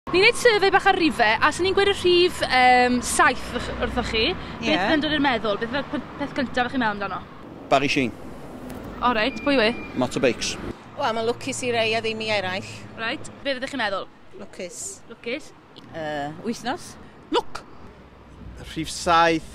Ni'n neud survey bach ar rife, a os o'n i'n gweud y rhif yym saith wrth- wrthoch chi, beth Ie. fydd dod i'r meddwl? Beth yw'r p- peth cyntaf o'ch chi'n meddwl amdano? Barry Sheen. O reit, pwy yw e? Motorbikes. Wel, mae'n lwcus i rei a ddim i eraill. Reit, be' fyddech chi'n meddwl? Lwcus. Lwcus. Yy, wythnos. Lwc! Rhif saith.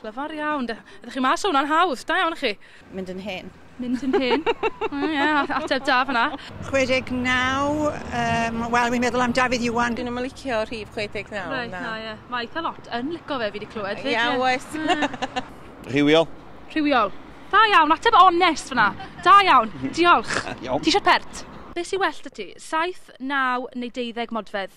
Clyfar iawn. Da, ydych chi mas o hwnna'n hawdd. Da iawn chi. Mynd yn hen. Mynd yn hen. Ie, yeah, ateb da fyna. 69, um, wel, wi'n meddwl am Dafydd Iwan. Dyn nhw'n licio rhif 69. Right, na, ie. Yeah. Mae eitha lot yn licio fe, fi wedi clywed. Ie, yeah, oes. Rhywiol. Rhywiol. Da iawn, ateb onest fyna. Da iawn, diolch. Ti eisiau pert? Be sy'n well dy ti? 7, 9 neu 12 modfedd?